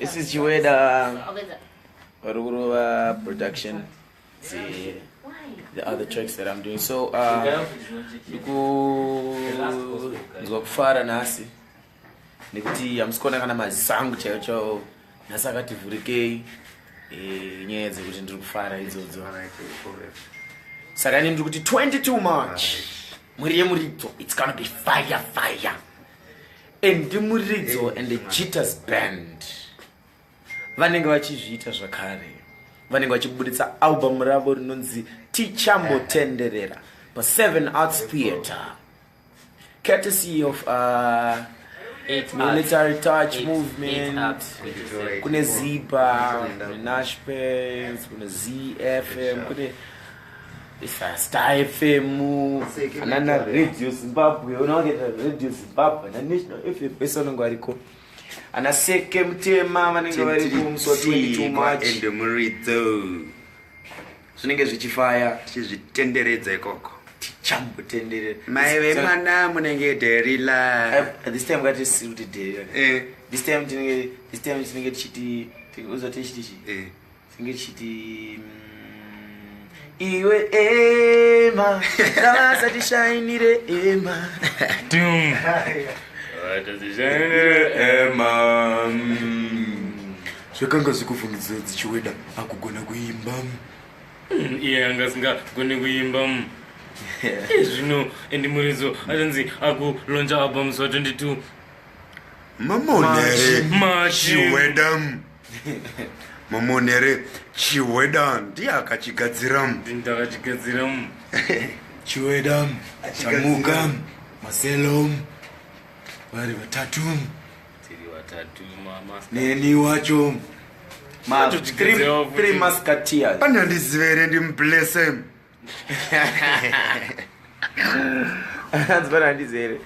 isi chiweda vari kurova production the other tracks that i'm doing so uh, ndikunzwa kufara nhasi nekuti hamusi kuona kana maziso angu chaiyo chao nhasi akati vhurikei eh, nyaya dzekuti ndiri kufara idzodzo saka ini ndiri kuti 22 march mwiri yemuridzo its gonna be fire fire endimuridzo and the jitters band vanenge vachizviita zvakare vanenge vachiburitsa album ravo rinonzi tichambotenderera paseven arts theatre courtesy of uh, military touch eight, movement kune ziba kune nashpens kune zfm kune Star FM, anana Radio Zimbabwe, unawaketa Radio Zimbabwe, ana National FM, pese vanenge variko. Ana Seke Mutema vanenge variko musi wa 22 March. Ende muridzo. Zvinenge zvichifaya. Tichizvitenderedza ikoko. Tichambotenderera. Mai vemwana munenge Derila. Eh, this time ngati siri kuti Derila. Eh. This time tinenge, this time tinenge tichiti, uzoti tichiti. Eh. Singe chiti mm, iwe ema ndavasa tishainire ema zvakanga zvikufungidzira dzichiweda akugona kuimba mm, iye anga asingagone kuimba mm. eh, zvino endi muridzo achanzi akulonja albums wa 22 mamonere machiweda Mamon here Chiweda ndiye akachigadzira. Ndiye akachigadzira. Chiweda, Chamuka, Marcelo vari vatatu. Tiri vatatu mama. Neni wacho. Ma three, three musketeers. Anandizive here ndimublesse. hanzi pana handizi here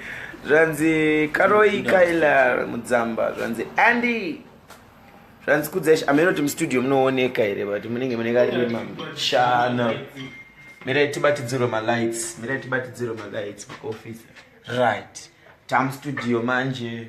zvanzi karoi kailar mudzamba zvanzi andy zvanzi kudzesh ameno kuti mustudio munooneka here but munenge mune karima shana mirai tibatidzirwe malights mirai tibatidzirwe malights muoffice right tamustudio manje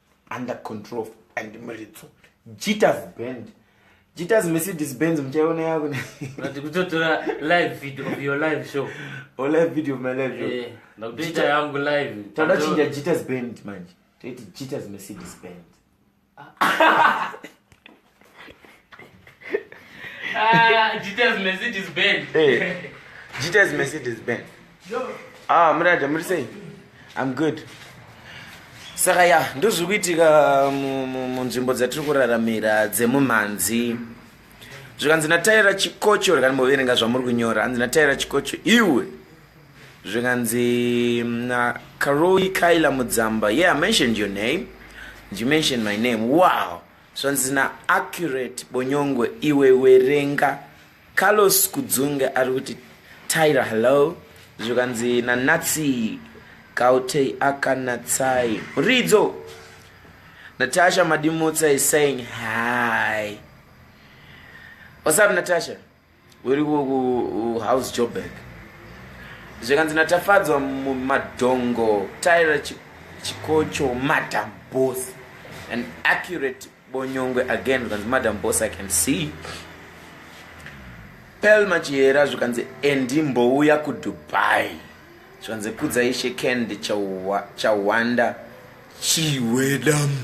under control and muridzo jitas band jitas mercedes benz muchaiona yakuna kuti kutotora live video of your live show or live video of my live show eh, ndakutoita yangu live tada chinja jitas band manje toiti jitas mercedes band ah. Ah, Jita's Mercedes Benz. Hey, Jita's Mercedes Benz. Ah, murada muri sei? I'm good. Saka ya, ndozviri kuitika munzvimbo dzatiri kuraramira dzemumhanzi. Zvikanzi nataira chikocho rekani moverenga zvamuri kunyora. Hanzi nataira chikocho iwe. Zvikanzi mm, na Karoi Kaila Mudzamba. Yeah, I mentioned your name. You mentioned my name. Wow. zvanzi na accurate bonyongwe iwe werenga carlos kudzunge ari kuti tyra hello zvikanzi nanatsi gautei akanatsai ridzo natasha madimutsa is saying hi whatsapp natasha uri kuhouse joburg zvikanzi natafadzwa madhongo tyra chikocho madam boss an accurate bonyongwe again zvikanzi madam boss i can see pel machihera zvikanzi endi mbouya kudubai zvikanzi kudzaishe kend chawanda chiwedamu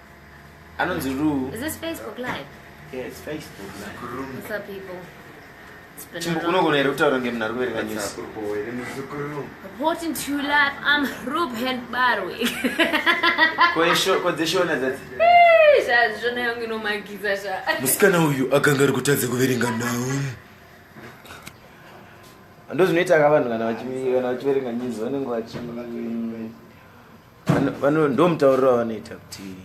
anonzi rue is this facebook live yes facebook live what's up people unogona here kutaura ngemunhu ari kuverenga news reporting to life i'm ruben barwe kodzeshona dzati zvazvona yangu inomagiza zva musikana uyu akanga ari kutadza kuverenga nhau ndozvinoita ka vanhu kana vachiverenga news vanenge vachi vano ndo mutauriro wavanoita kuti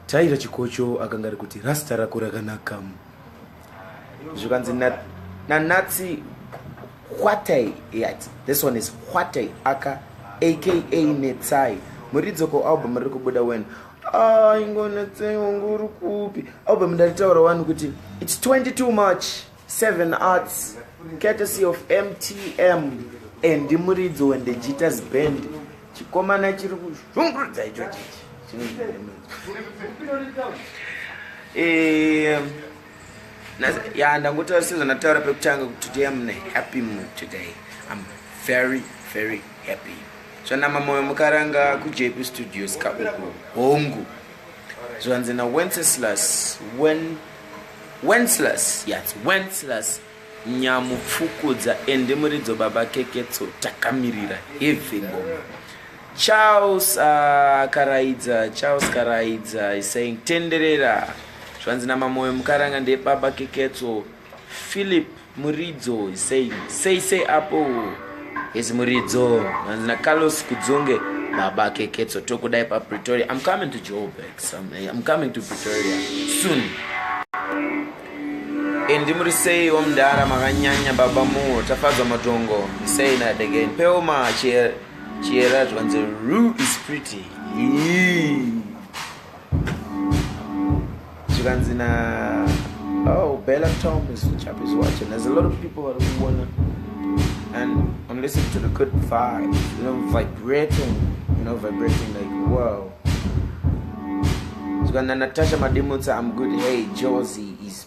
taira chikocho akanga ari kuti rasta rako rakanaka zvikanzi nanatsi hwatai yati this one is hwatai aka aka netsai muridzoko album riri kubuda wen ah, ingonetsai wangu uri kupi album ndaritaura wani kuti its 22 march Seven Arts, courtesy of MTM and Muridzo when the Jitters Band. Chikomana chiri kuzvungurudza icho chichi. Eh, ya ndangotaura sezvandataura pekutanga kuti today am in a happy mood today. I'm very very happy. Zvanama moyo mukaranga kuJP Studios kauku. Hongu. Zvanzi na Wenceslas when Wenceslas yats Wenceslas nyamupfukudza ende muridzo baba keketso takamirira heavy ngoma Charles uh, Karaidza Charles Karaidza is saying tenderera zvanzi namamoyo mukaranga ndebaba keketso Philip Muridzo sei sei sei apo his muridzo hanzi nacarlos kudzunge baba keketso tokudai papretoria i'm coming to joburg eh, i'm coming to pretoria soon indi muri sei wamdara makanyanya baba muwo tafadzwa matongo sei nadegen peoma chiyera zvikanzi ru is pretty Yee. zvikanzi na oh bella tom is chap is watching there's a lot of people vari kuona and i'm listening to the good vibe you know vibrating you know vibrating like wow zvikanzi na natasha madimutsa i'm good hey josie is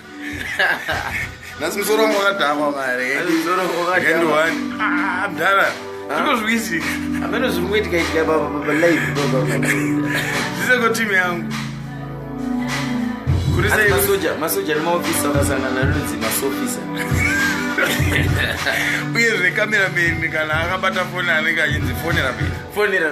nhasi musoro wangu wakadhakwa mareendwaniamdhara ah, zvinozviwisika ameno zviri kuitika itika palive zvisekotimi yangu kurimasoja masoja nemaofisa akasangana anonzi masofisa uye zve kamerameni kana akabata foni anenge achinzi fonera fonera